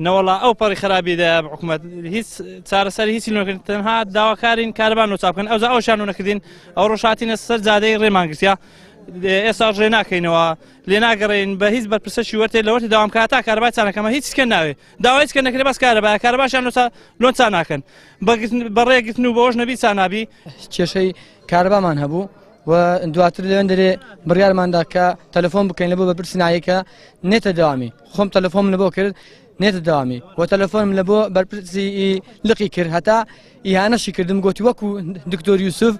نەوەڵا ئەو پەڕی خرابی دە حکومت هیچ چارەسەر هیچی نەکرد تەنها داواکارین کاربان و چاپکەن ئەوزا ئەو شانو نەکردین ئەو ڕۆژاتینە سەر جادەی ڕێمانگرسیا ئێستا ڕێ ناکەینەوە لێ ناگەڕین بە هیچ بەرپرسەشی وەرتێ لەوەتی داوام کا تا کاربای چانەکەمە هیچ کە ناوێ داوای کە نەکرێ بەس کارەبا کارباشان لۆسا لۆن چا ناکەن بەڕێگرتن و بۆش نەبی چانابی کێشەی کاربامان هەبوو و دواتر لەوێن دەرێ بڕارماندا کە تەلەفۆن بکەین لە بۆ بەپرسنایەکە نێتە داوامی خۆم تەلەفۆم لە بۆ کرد نێتە داوامی بۆ تەلەفۆنم لە بۆ بەرپرسی لقی کرد هەتا ئیهانەشی کردم گوتی وەکو دکتۆر یوسف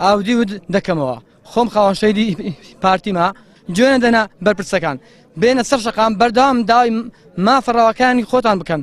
ئاودی ود دەکەمەوە خۆم خاوەنشەیدی پارتیما جوێنە دەنا بەرپرسەکان بێنە سەر شقام بەردەوام داوای مافەڕەوەکانی خۆتان بکەن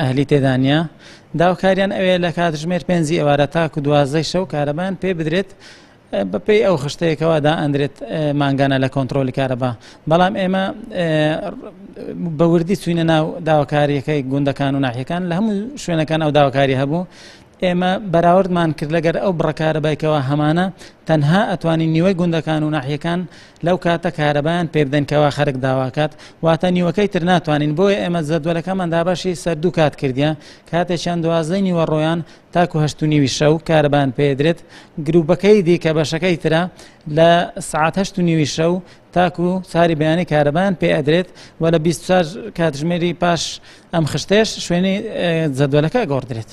ئەهلی تێدا نییە، داوکاریان ئەوەیە لە کاتژمێر پێنجی ئێوارە تاکو دوازدەی شەو کارەبایان پێ بدرێت، بەپێی ئەو خشتەیە کەوا دائەندرێت مانگانە لە کۆنترۆلی کارەبا بەڵام ئێمە بە وردی چوینە ناو داواکاریەکەی گوندەکان و ناحیەکان لە هەموو شوێنەکان ئەو داواکاری هەبوو ئێمە بەراوردمان کرد لەگەر ئەو بڕکارە بایکەوە هەمانە تەنها ئەتوانی نیوەی گوندەکان و ناحیەکان لەو کاتە کارەبایان پێ بدەن کەوا خەرک داواکات واتە نیوەکەی تر ناتوانین بۆیە ئێمە زەدوەلەکەمان دابەشی سەر دوو کات کردیان کاتێکیان دوازدەی نیوە ڕۆیان تاکو هەشت و نیوی شەو کارەبان پێدرێت گروپەکەی دیکە بەشەکەی ترە لە سعات هەشت و نیوی شەو تاکو ساری بەیانی کارەبان پێ ئەدرێت و لە 24 کاتژمێری پاش ئەم خشتێش شوێنی زەدوەلەکە گۆڕدرێت.